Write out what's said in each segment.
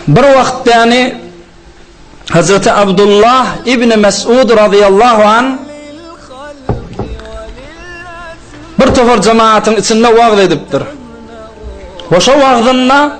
Bir wagt däni Hazreti Abdullah ibn Mes'ud radiyallahu an bir tofar cemaatin içinde wagz edipdir. Hoşa wagzynna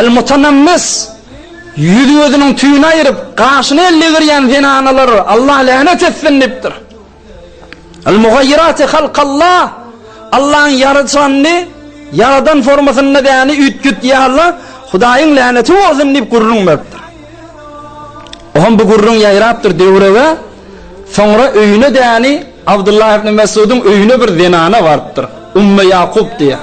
Al-Mutanammis, Ýüzi-gözüniň tüýüni aýryp, gaşyny ellegerýän zenanalar, Allah länet etsin! diýipdir. Al-Mugaýyrati Halkallah, Allaň ýaradyşyny, ýaradan formasynda däni üýtgetýän Allah, Hudaýyň läneti bolsun! diýip gürrüň beripdir. O hem bu gürrüň ýaýrapdyr döwrege, soňra öýüne däni Abdullah ibn Messudyň öýüne bir zenana barypdyr, Ummu Ýakup diýen.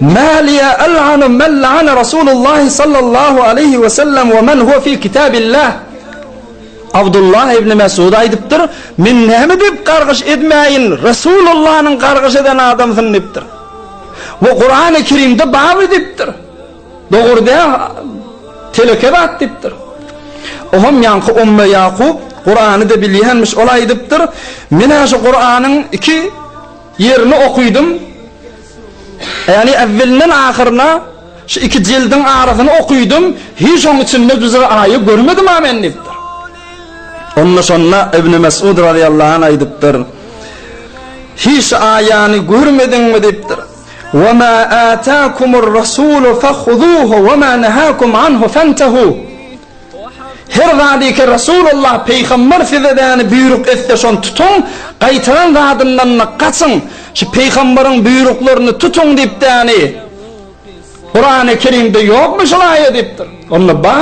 Mäliýe, El'anu men la'ana Rasulullahi sallallahu aleýhi we sellem we men huwe fi kitabillah. Abdullah ibn Mesud aýdypdyr, Men näme diýip gargyş edmäýin, Rasulullanyň gargyş eden adamsyn diýipdir. Bu Kur'an-y Kerimde baby diýipdir. Dogry dä, teleke zat diýipdir. Oham ýaňky Umme Ýakup Kur'any-da bilýänmiş, ol aýdypdyr, Menä şu Kur'anyň iki Ýerini okydym. Ýagny äwwelinden ahyryna şu iki jildiň arasyny okydym. Hiç oň içinde düze aýy görmedim-ä men diýipdir. Onda şonda Ibni Mesud razyýallahu anh aýdypdyr. Hiç aýany görmediňmi diýipdir. Wa ma atakumur rasulu fahuzuhu wa ma nahakum anhu fantahu. Her zadyka Resulullah Peýgamber size näni buýruk etse şony tutuň, gaýtaran zadyndan-da gaçyň, şu Peýgamberiň buýruklaryny tutuň diýip däni Kurany Kerimde ýokmy şol aýa diýipdir. Onda ba,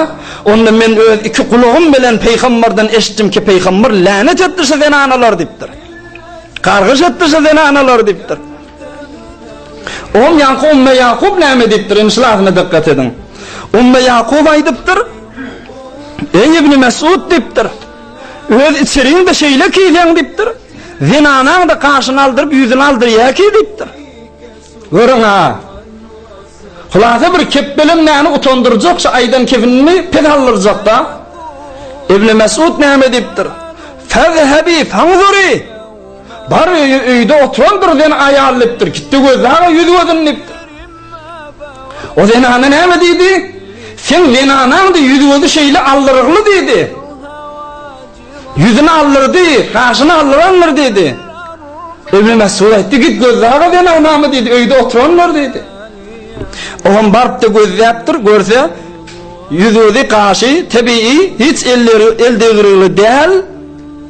onda men öz iki gulagym bilen Peýgamberden eşitdimki Peýgamber länet etdi şu zenanalar diýipdir. Gargyş etdi şu zenanalar diýipdir. Oň ýaňky Umme Ýakup näme diýipdir? Indi şulasyna dykgat ediň. Umme Ýakup aýdypdyr, Eý Ibni Mesud diýipdir, öz içeriňde şeýle kiýseň diýipdir, zenanaň-da gaşyny aldyryp, ýüzüni aldyrýa kiý diýipdir. Görüň-ä. Hulasa bir kepbelem näni utandyrjak şu aýdan kepinini pes aldyrjak-da. Ibni Mesud näme diýipdir? Fezhebi fanzuri! Bar öýi öýde oturan bir zen aýallypdyr. Gitdi Gözli aga ýüz gözün dikdir. O zenana näme diýdi? Seň zenanaňdy ýüz gözi şeýle aldyrygly diýdi. Ýüzüni aldyrdy, gaşyny aldyrandyr diýdi. Ibn Mesud aýtdy, git Gözli aga zenanamy diýdi, öýde oturandyr diýdi. Ogam barypdy gözläpdir, görse ýüz gözi gaşy tebigy hiç elleri el degirigli däl.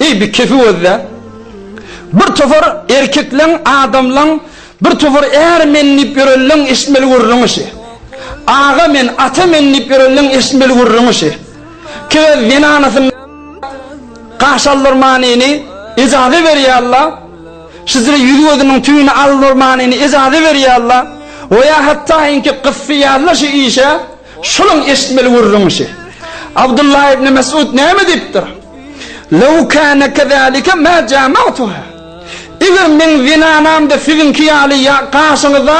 Eý, bir kefi gözle! Bir topar erkekleň, adamlaň, bir topar är men diýip ýörenleň eşitmeli gürrüňi şi. Aga men, ata men diýip ýörenleň eşitmeli gürrüňi şi. Kigez zenanasyn gaş aldyrmanyny ejaza berýärla, şizre ýüzi-gözüniň tüýüni aldyrmanyny ejaza berýärla, o ýa hatdaýynki gyssy ýazla şi işe. Şolaň eşitmeli gürrüň şi. Abdullah ibn Mes'ud näme diýipdir? Lew kana kezalika ma jama'tuha. Eger meň zenanam-da siziňki ýaly ýa gaşyňyza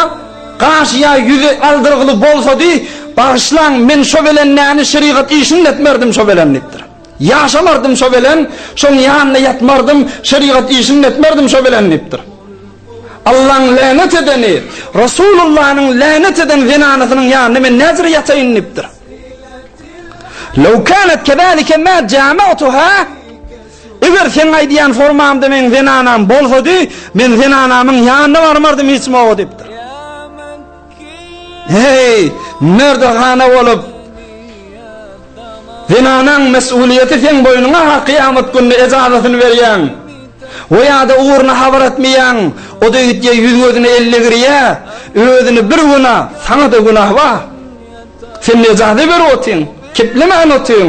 gaş ýa ýüzi aldyrgyly bolsady, bagyşlaň, men şo belen näni şerigat işini etmerdim şo belen diýipdir. Ýaşamardym şo belen, şoň ýanynda ýatmardym, şerigat işini etmerdim şo belen diýipdir. Allaň länet edeni, Resulullanyň länet eden zenanasynyň ýanynda men näzir ýataýyn diýipdir. Lew kanat kezalike ma jama'tuha, Eger seň aýdýan formamda meň zenanam bolsady, men zenanamyň ýanyna barmardym hiç moga diýipdir. Heý, merdehana bolup, zenanaň mesulyýeti seň boýnuňa ha kyýamat gününe ejazatyny berýäň. O ýa-da ugruna habar etmeýäň, o döýtýä ýüz-gözüne elle girýä, özüne bir güna, saňa-da günah wah. Sen nejaty berip otyň, keplemän otyň.